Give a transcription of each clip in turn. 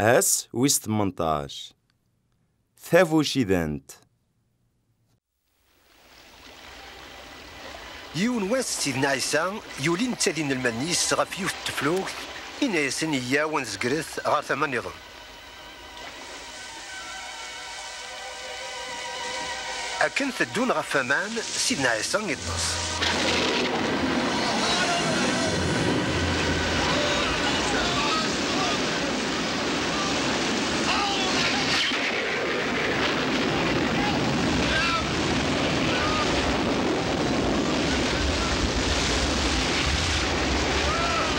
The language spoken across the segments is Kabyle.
Ass wis 18 Tabucidant Yiwen wass Sidna Ɛisa yuli netta d inelmaden-is ɣef yiwet n teflukt, inna-yasen, Yyaw ad nezgret ɣer tama-nniḍen. Akken teddun ɣef waman, Sidna Ɛisa iṭṭes.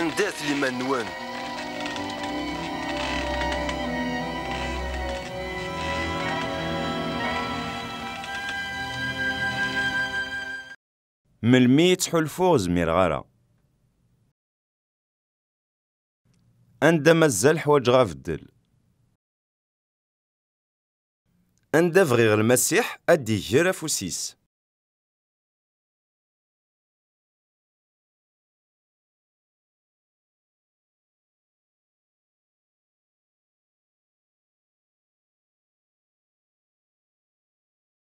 Andat liman-nwen. Melmi i ttḥulfuɣ zmireɣ ara. Anda mazal ḥwaǧeɣ abeddel. Anda bɣiɣ Lmasiḥ ad d-iger afus-is.